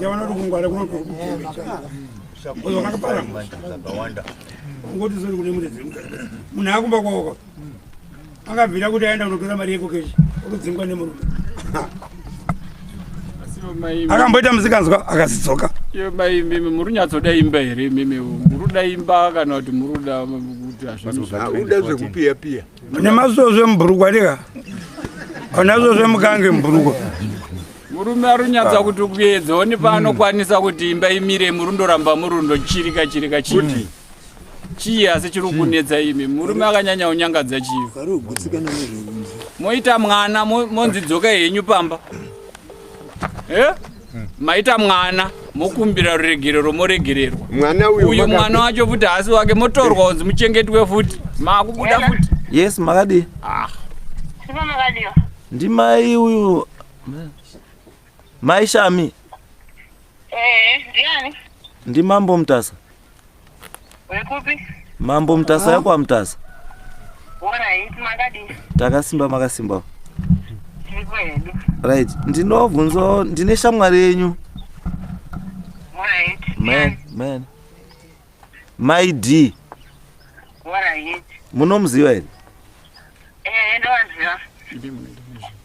G: Yavana kungwara kuno kuno. Oyo kakapara. Zvakawanda. Ngoti zori kune mune dzimwe. Munhu akumba kwaoko. Akabvira kuti aenda kunotora mari yeko keshi. Okudzingwa nemurume. akamboita musikanzwa akazidzoka iyo mai mimi
H: muri nyatsoda imba here mimi muruda imba kana kuti muruda kuti hazvauda
B: zvekupiyapiya mune masvosve
G: mubhurukwa dika anasvosve mukange mubhurukwa murume
H: arunyatsa kuti kuedza one paanokwanisa kuti imba imire murundoramba murundo chirika chirika chii chii asi chiri kunetsa imi murume akanyanya unyangadza chii moita mwana monzi dzoka henyu pamba eh? Hmm. maita mwana mokumbira ruregerero moregererwa mwana uyo mwana wacho futi haasi wake motorwa unzi muchengetwe futi makubuda futi yes makadii
C: ah. ndimai uyu mai shami eh,
I: ndiani ndimambo
C: mutasa
I: Wekupi? Mambo
C: Mtasa yako wa Mtasa.
I: Alright, makadii? Takasimba makasimba.
C: Tiripo hedu. Right, ndinobvunzo ndine shamwari yenyu. Alright. Man, man. My D. Alright. Munomuziva here? Eh, ndovaziva.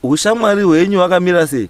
I: Ushamwari
C: hwenyu wakamira sei?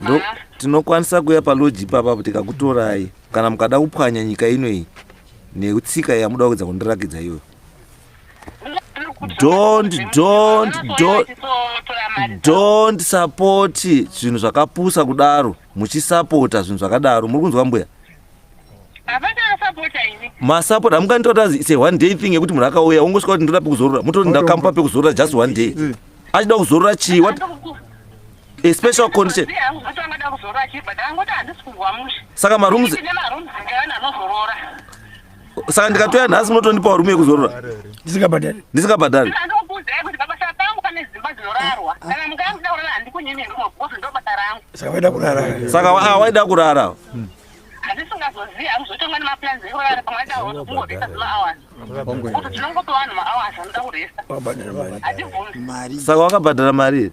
C: ndo tinokwanisa kuya paloji ipapa kuti kakutorai kana mukada kupwanya nyika ino iyi netsika yamuda kuedza kundirakidza iyoyo don't don't don't don't support zvinhu zvakapusa kudaro muchisapota zvinhu zvakadaro muri kunzwa mbuya masapota amunganditora kuti se one day thing yekuti munhu akauya ungosvika kuti ndoda pekuzorora mototi ndakampa pekuzorora just one day achida kuzorora chii a special condition saka marooms saka ndikatouya nhasi munotondipawo rume yekuzorora ndisingabhadhari ndisingabhadhari saka ah, waida kurara saka wakabhadhara mari here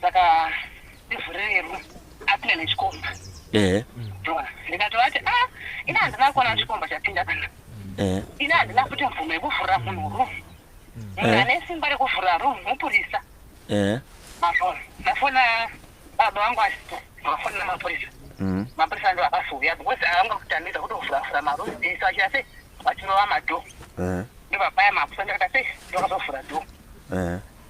I: saka ndivhurire room apinda nechikomba ehe Ndona. ndikatovati ah ini handina kuona chikomba chapinda kana ehe ini handina kuti mvumo yekuvhurira munhu room munhu Eh. ane simba rekuvhurira room mupurisa ehe mafoni ndafona baba vangu asipo ndikafonera mapurisa Mhm. mapurisa ndo akazouya because avanga kutambidza kuti kuvhuravhura maroom ese vachita sei vachinova madhoo ehe ndobabaya mapurisa ndakata sei ndokazovhura dhoo ehe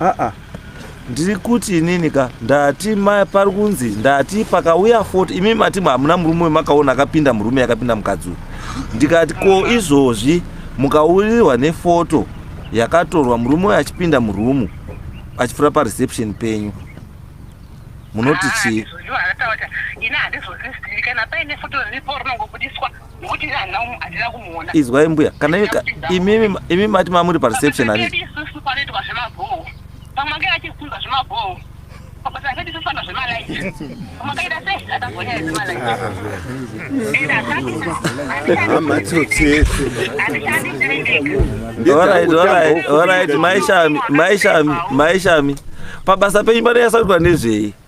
I: aa ndiri
C: kuti inini ka ndati pari kunzi ndati pakauya fot imi mati hamuna murume wemakaona akapinda murume yakapinda mukadzi uyu ndikati ko izvozvi mukaurirwa nefoto yakatorwa murume uyo achipinda murumu achipfuura pareception penyu munoti chii ah, izwai mbuya kana imi mati mamuri pareception ani maishami maishami maishami pabasa penyu panoyasaurwa nezvei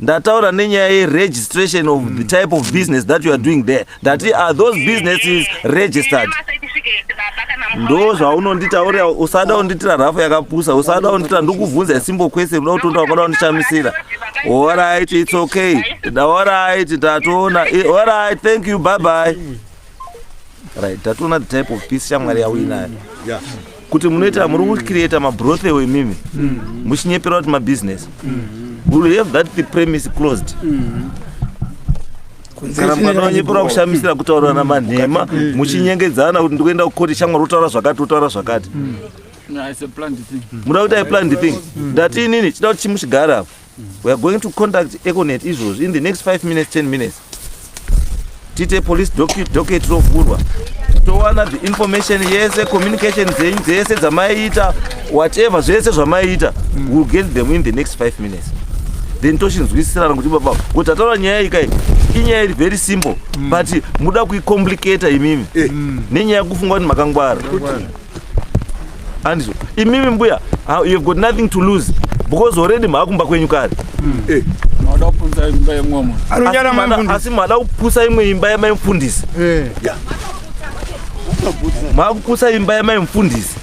C: ndataura nenyaya yeregistration of the type of business that you are doing there ndati are those businesses registered ndo zvaunonditaurira usada unditira rafu yakapusa usada unditira ndikuvhunza isimbo kwese uda kutonda wakada undishamisira orit its okay orit ndatoona orit thank you bye bye right ndatoona the type of peace shamwari yauinayo
B: kuti munoita
C: muri kucreata mabrothel imimi mm. muchinyepera kuti mabusiness mm. will have that the premise closed mm. kana mwana wanyepera kushamisira kutaurirana manhema muchinyengedzana kuti ndikuenda kukoti shamwa rotaura zvakati rotaura zvakati
H: muda kuti aiplanned thing
C: ndati inini chida kuti chimuchigara apo we are going to contact econet izvozvi in the next 5 minutes 10 minutes tiite police docket rovhurwa towana the information yese communication dzenyu dzese dzamaiita whatever zvese zvamaiita mm. will get them in the next 5 minutes then tochinzwisisirana kuti baba kuti ataura nyaya iyi kai inyaya iri very simple mm. but muda kuicomplicata imimi eh. mm. nenyaya yekufunga kuti makangwara andizvo imimi mbuya you have got nothing to lose because already maakumba kwenyu kare
H: hmm. eh. asi
C: maada kupusa imwe imba yamai mfundisi eh. maakupusa imba yamai mfundisi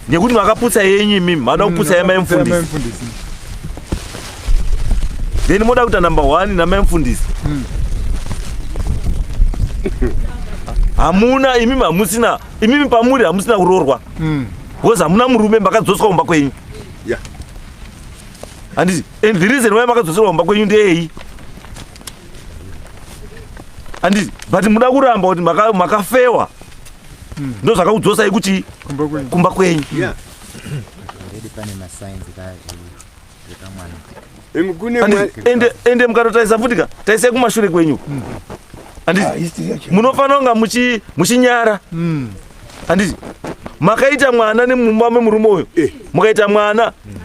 C: nekuti makapusa yenyu imimi maada kupusa yamai mfundisi then moda kuita number one namai mfundisi hmm. hamuna imimi hamusina imimi pamuri hamusina kuroorwa hmm. because hamuna murume makadzoswa kumba kwenyu handiti and the reason why makadzoserwa kumba kwenyu ndeyeyi handiti but muda kuramba kuti makafewa maka hmm. ndo zvakakudzosai kuti kumba kwenyu
J: yeah.
C: ende mukatotarisa futi ka tarisai kumashure kwenyu hmm. anditi ah, munofanira kunga muchinyara hmm. anditi makaita mwana nemumba memurume uyo eh. mukaita mwana hmm.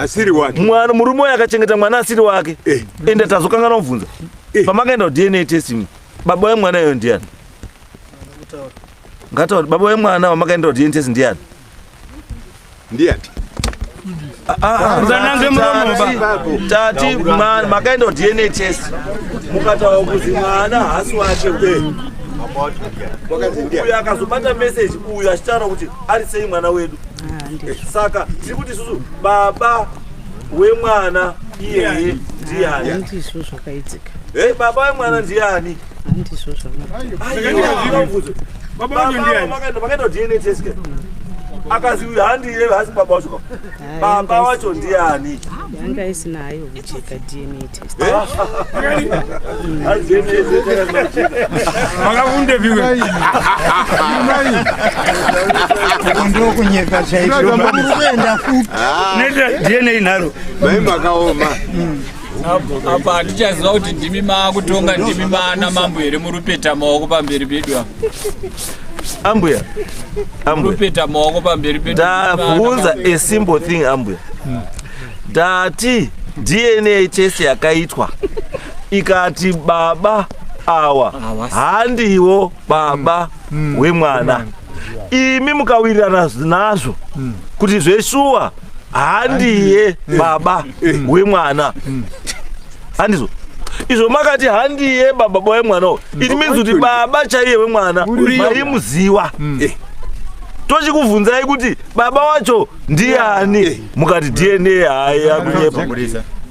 C: asiri
B: wake mwana murume uyo akachengeta
C: mwana asiri wake eh. ende tazokanganwa kubvunza eh. pamakaenda kudna test baba wemwana iyoyo ndiani ngatauri baba wemwana wamakaenda kudna test ndiani
B: ndiani musanange
C: muromoba tati mwana makaenda dna test mukataura kuti mwana hasi wake uyo akazobata message uyo achitaura kuti ari sei mwana wedu saka tiri kuti isusu baba wemwana iyeye ndiani
F: baba wemwana
C: ndiani handizvo zvamakaita dna
F: test
C: akazi uyu handiye hasi baba wacho baba wacho ndiani yanga isina
F: hayo kucheka dna testmakavunde
G: viwe
K: ndokunyeka chaizvoenda futi neta dna
G: nharo mai makaoma
H: apa hatichaziva kuti ndimi maakutonga ndimi maana mambo here murupeta maoko pamberi pedu apa
C: ambuya
H: murupeta maoko pamberi pedu ndavunza a
C: simple thing ambuya hmm. ndati dna test yakaitwa ikati baba awa handiwo baba hmm. wemwana hmm. imi mukawirirana nazvo hmm. kuti zveshuwa handiye baba mm. wemwana mm. handizvo izvo makati handiye baba boye mwana uyu mm. it means kuti baba chaiye wemwana maimuziwa mm. eh. tochikubvunzai kuti baba wacho ndiani eh. mukati dna hayi akunyepa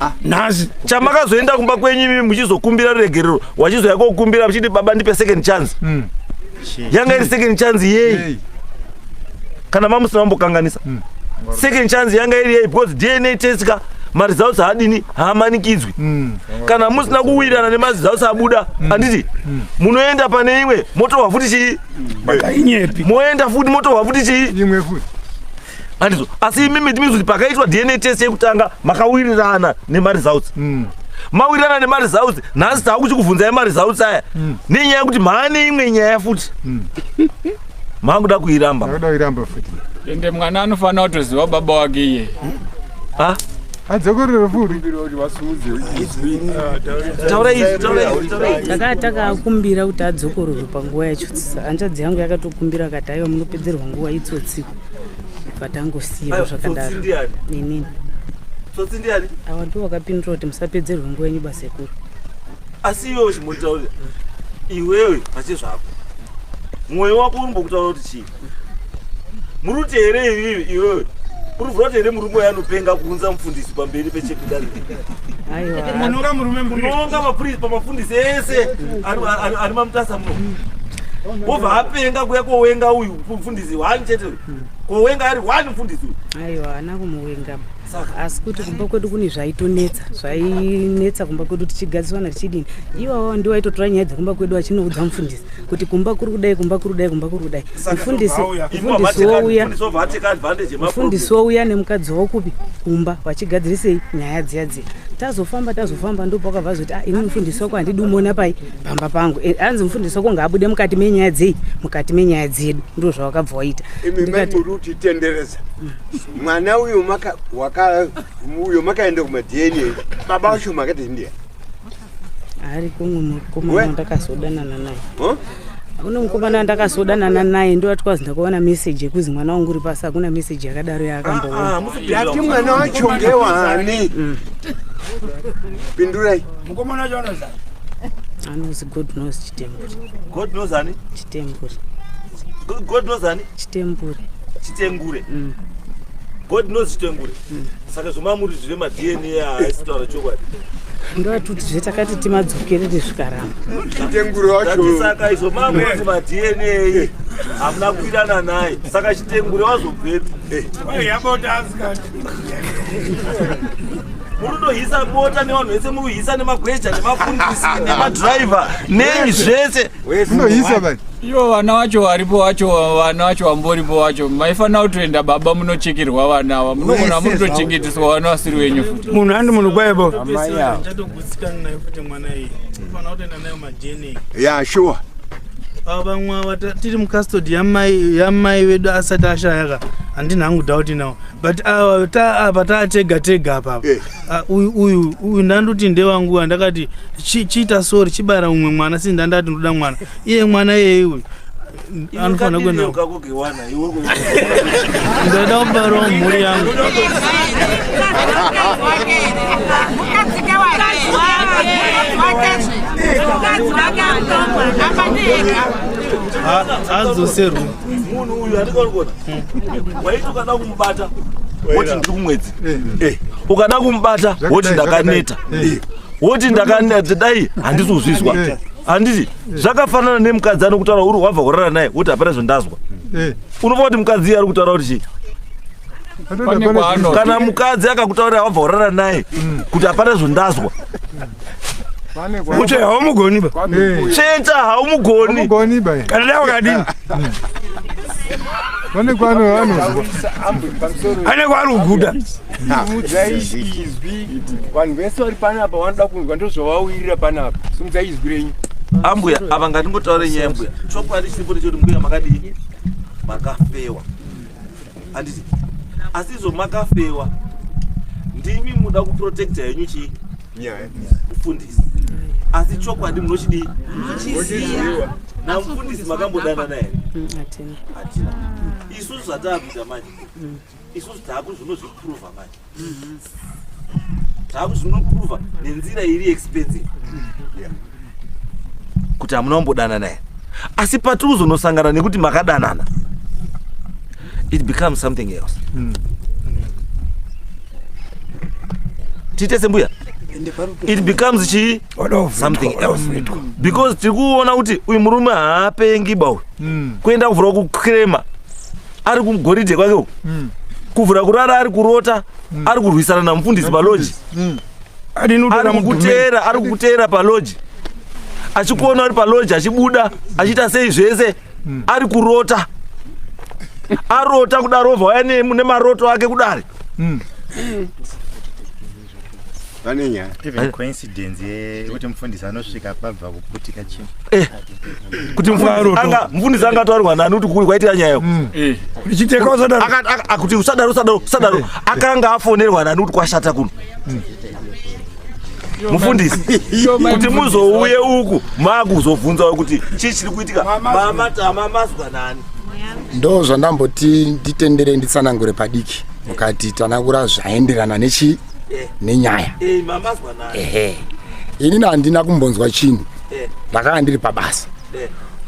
C: ah. nhasi
G: chamakazoenda
C: kumba kwenyu imi muchizokumbira ruregerero wachizouya kokumbira muchiti baba ndipe second chance mm. yanga iri second chance yei kana mamusina mambokanganisa hmm. second chance yanga iri yei because dna test ka maresults haadini haamanikidzwi hmm. kana musina kuwirirana nemaresults abuda hmm. handiti munoenda pane imwe motohwa futi chii moenda futi motohwa futi chii
K: andizvo
C: asi imi miti mizoti pakaitwa dna test yekutanga makawirirana nemaresults mm. mawirirana nemaresults nhasi tava kuchikubvunza emaresults aya mm. nenyaya yekuti maane imwe nyaya futi mm. makuda kuiramba
K: ende mwana
H: anofanira kutoziva baba wake iye ah? adzokorere
K: furitakaa
F: takaakumbira kuti adzokororwe panguva yacho tsisa hanzvadzi yangu yakatokumbira kati aiwa munopedzerwa nguva itsotsiku vatangosiya zvakadaro nini tsotsi ndiani awa ndiwo wakapindura kuti musapedzerwe nguva yenyu basekuru asi
C: iwewe chimotaurira iwewe pache zvako mwoyo wako urimbokutaura kuti chii muri kuti here ivivi iwewe uri vhura kuti here murume uya anopenga kuunza mufundisi pamberi pechekudarimunonga murume munonga mapurisi pamafundisi ese ari mamutasa muno wobva apenga kuya kowenga uyu mfundisi one chete uyu hmm. kowenga ari one mfundisi uyu aiwa
F: haana kumuwenga asi kuti kumba kwedu kune zvaitonetsa zvainetsa kumba kwedu tichigadziwana tichidini iwawo ndiwo aitotora nyaya dzekumba kwedu achinoudza mufundisi kuti kumba kuri kudai kumba kuri kudai kumba kuri kudai mufundisi wouya mufundisi wouya nemukadzi wakupi kumba vachigadzirisei nyaya dziya dziya tazofamba tazofamba ndopakabva zoti ah, ini mufundisi wako handidi umona pai pamba pangu eh, hanzi mufundisi wako ngaabude mukati menyaya dzei mukati menyaya dzedu ndo zvawakabva waita imi mai muri
B: kutitendereza mwana uyo uyo makaenda kumadna baba wacho makati ndiya
F: ari kumwe mukomana ndakazodanana naye une mukomana ndakazodanana naye ndo atikazi ndakaona meseji yekuzi mwana wangu uri pasi hakuna meseji yakadaro yaakamboona ah, ah, mwana
B: wacho ngewani mm. pindurai Mukomana
G: wacho anozana. Anozi
F: God knows chitembure. God knows ani?
C: Chitembure. God knows ani? Chitembure.
F: Chitengure.
C: Mm. God knows chitengure. Mm. Saka zvomamuri zvine ma DNA haisi taura chokwadi. ndoatuti
F: zve takati timadzokerere zvikaramba chitengure
B: wacho saka izvo mamuri
C: ma DNA hamuna kuirana naye saka chitengure wazobvepi. Eh. murudohisa bota nevanhu vese muruhisa nemagweja nemafundisi nemadriver nei zvese munohisa
K: vai ivo vana vacho
H: varipo vacho vana vacho vamboripo vacho maifanira kutoenda baba munochekerwa vana ava munoona murutochengeteswa vana vasiri venyu futi munhu andi munhu kwaivo
D: ya shuwa
B: vamwe
D: tiri mucustody yamai vedu asati ashayaka handina hangu doubt nawo but uh, ta, apa uh, taatega tega apa eh. uh, uyu uyu uyu ndandoti ndewangu andakati chiita chi sori chibara umwe mwana sii ndandati ndoda mwana iye mwana iyeye uyu anofanira kuenda ndoda kubarawo mhuri yangu adzoserwe munhu uyu
C: andikaonigona waiti ukada kumubata woti ndiri kumwedzi eh, ukada kumubata woti ndakaneta eh, woti ndakaneta dai handisi kuzvizwa eh. handiti zvakafanana nemukadzi anokutaura uri wabva kurara naye woti hapana zvondazwa unobva kuti mukadzi iye ari kutaura kuti chii kana mukadzi akakutaurira wabva urara naye kuti hapana zvondazwa
K: kuti haumugoni ba cheta
C: haumugoni kana dai
K: wakadini vane kwano vanozwa
G: ane kwari kuguda simudzai izwi
B: vanhu vese vari panapa vanoda kunzwa ndozvavauyirira panapa simudzai izwi renyu ambuya
C: ava ngatingotaure nyaya mbuya chokwadi chiripo ndechekuti mbuya makadii makafewa handiti asi izvo makafewa ndimi muda kuprotecta henyu chii nyaya mufundisi asi chokwadi munochidii munochiziva namufundisi makambodanana here mm, hatina isusu zvataakuita manje mm. isusu taakuzvinozviprova manje zvaku zvinoprova nenzira iri expensive kuti hamuna kumbodanana here asi patiri kuzonosangana nekuti makadanana it becomes something else mm. tiite sembuya it becomes chii something else because tiri kuona kuti uyu murume haapengi ba uyu mm. kuenda kuvhura kukrema ari kugoridhe kwake uku mm. kuvhura kurara ari kurota mm. ari kurwisana namufundisi paloji mm. ari kukuteera ari kukuteera paloji achikuona ari paloji achibuda achiita sei zvese mm. ari kurota arota kudarovha waya nemaroto ake kudari mm.
J: vane nyaya even coincidence yekuti mufundisi anosvika pabva kuputika chii eh.
C: kuti mufundisi anga ataurwa nani kuti kuri kwaitira nyaya yo mm. eh.
G: kuti usadaro
C: usadaro usadaro eh. akanga afonerwa nani kuti kwashata kuno mm. mufundisi kuti muzouye uku makuzobvunzawo kuti chii chiri kuitika mamatama mazwa nani ndo
E: zvandamboti nditendere nditsanangure padiki mukati tanakura zvaenderana nechi eh. nenyaya eh, ehe ini nandina kumbonzwa chinhu eh. ndakanga ndiri pabasa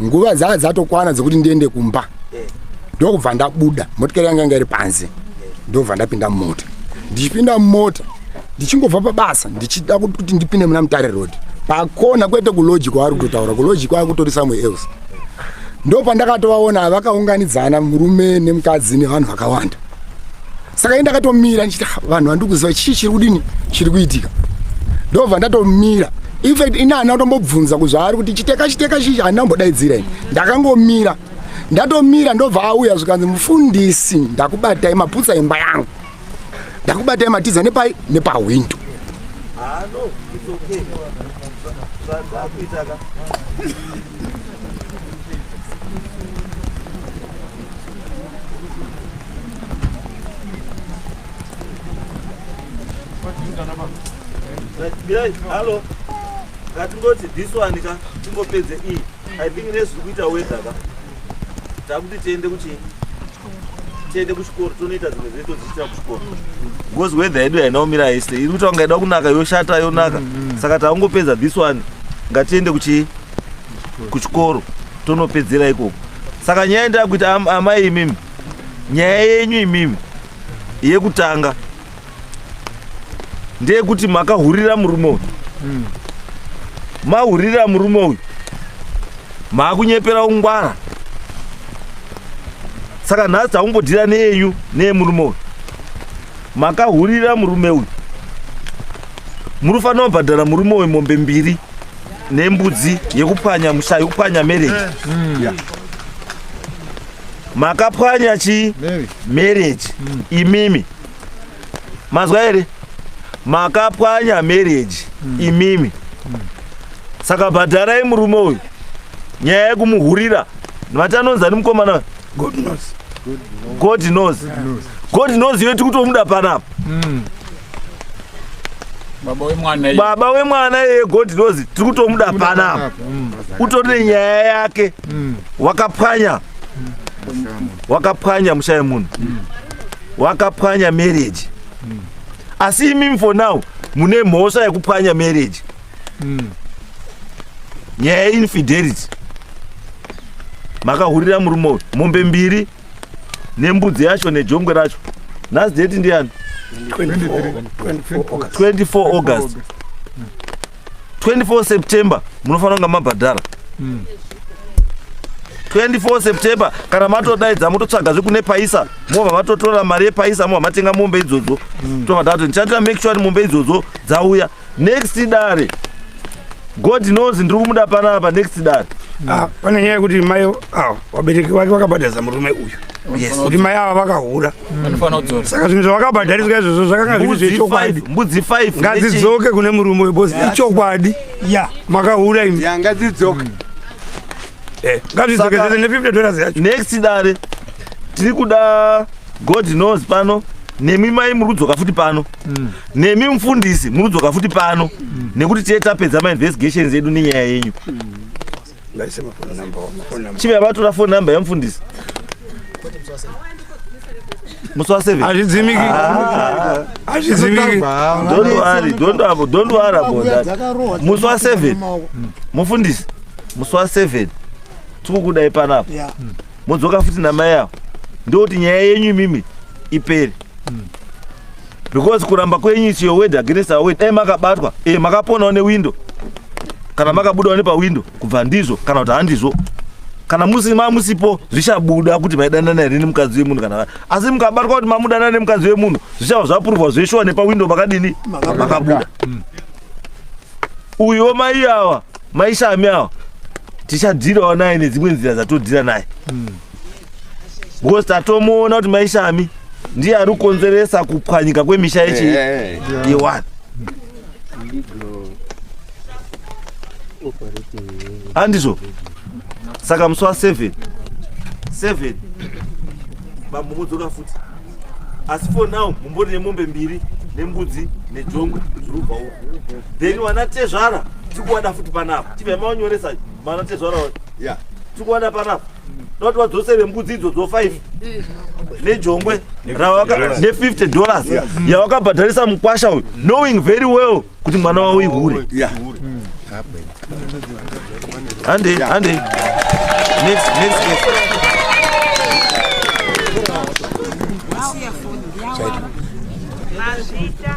E: nguva dzaa dzatokwana dzekuti ndiende kumba ndokubva ndabuda motikari yanga yanga iri panze ndobva ndapinda mumota ndichipinda mumota ndichingobva pabasa ndichida kuti ndipinde muna mutare road pakona kwete kuloji kwaari kutotaura kuloji kwaa kutori somewhere else ndopandakatovaona vakaunganidzana murume nemukadzi nevanhu vakawanda saka ini ndakatomira ndichiti "Ah, vanhu vandiri kuziva chii chiri kudini chiri kuitika ndobva ndatomira infact ini hana kutombobvunza kuzvaari kuti chiteka chiteka chii handina kumbodaidzira ini ndakangomira ndatomira ndobva auya zvikanzi mufundisi ndakubatai maputsa imba yangu ndakubatai matiza nepai nepahwindo
C: mirai hallo ngatingoti this one ka tingopedze iyi i think nezviri kuita wedha ka takuti tiende kuchii tiende kuchikoro tonoita dzimwe zve todziitira kuchikoro because wedha yedu yainaomira haise iri kuita kungaida kunaka yoshata yonaka mm, mm. saka taungopedza this one ngatiende kuchii kuchikoro tonopedzera ikoko saka nyaya yandava kuita am, amai imimi nyaya yenyu imimi yekutanga ndeyekuti makahurira murume uyu mm. mahurira murume uyu maakunyepera ungwara saka nhasi takumbodira neyenyu neyemurume uyu makahurira murume uyu muri fanira kubhadhara murume uyu mombe mbiri nembudzi yekupwanya musha yekupwanya marriage eh. hmm. yeah. makapwanya chi marriage mm. imimi mazwa here makapwanya marriage mm. imimi mm. saka bhadharai murume uyu nyaya yekumuhurira vati anonzi ani mukomana god knows god knows god knows iwe tikutomuda panapa mm. baba wemwana iyeye god knows tiri kutomuda panapa mm. utori nenyaya yake mm. wakapwanya wakapwanya mushaye munhu mm. wakapwanya marriage asi imimi for now mune mhosva yekupwanya marriage nyaya yeinfidelity makahurira murume uyu mombe mbiri nembudzi yacho nejongwe racho nhasi date ndiyani 24 august 24 september munofanira kunga mabhadhara 24 september kana matodaidza mototsvaga zvekune paisa mobva matotora mari yepaisa mobva matenga mombe idzodzo tobva tati ndichatira make sure kuti mombe idzodzo dzauya next dare god knows ndiri kumuda panapa next dare ah, pane nyaya yekuti
G: mai ah, vabereki vake vakabhadharisa murume uyu kuti mai ava vakahura mm. saka zvinhu zvavakabhadhariswa izvozvo zvakanga zviri zvechokwadi mbudzi 5
C: ngadzidzoke kune murume
G: uyu bos ichokwadi makahura imi ngadzidzoke
K: mm. eh, ngadzidzoke
G: zese ne50 dollars yacho next dare
C: tiri kuda god knows pano nemi mai muri kudzoka futi pano mm. nemi mufundisi munodzoka futi pano mm. nekuti tiye tapedza mainvestigations edu nenyaya yenyu mm. chimea vatora fone number yamufundisi musi wa seven hazvidzimiki ah. hazvidzimiki
G: don't worry don't
C: worry don't worry about that musi wa seven mufundisi musi wa seven tikukudai panapa mudzoka futi namai avo ndokuti nyaya yenyu imimi ipere mm. because kuramba kwenyu is your word against our word dai makabatwa e makaponawo newindo kana makabudawo nepawindo kubva ndizvo kana kuti handizvo kana musi mamusipo zvichabuda kuti maidanana here nemukadzi wemunhu kana asi mukabatwa kuti mamudanana nemukadzi wemunhu zvichava zvapurwa zveshuwa nepawindo makadini makabuda mm. uyo mai awa maishami awa tichadhirawo naye nedzimwe nzira dzatodhira naye mm. because tatomuona kuti maishami ndiye ari kukonzeresa kupwanyika kwemisha yechi eh, eh. yewani andizvo saka musi wa seven seven bambo mudzoka futi asi for now mumbori nemombe mbiri nembudzi nejongwe zvirubva uku then wana tezvara tikuwada futi panapa chibva maonyoresa Mwana tezvara uyu. Yeah. Tikuona panapa. Toti wadzose vembudzi idzo dzo 5 nejongwe rawaka ne 50 dollars yawakabhadharisa mukwasha uyu knowing very well kuti mwana wawo ihure. Yeah. Hande hande. Next next next.
L: Mazita.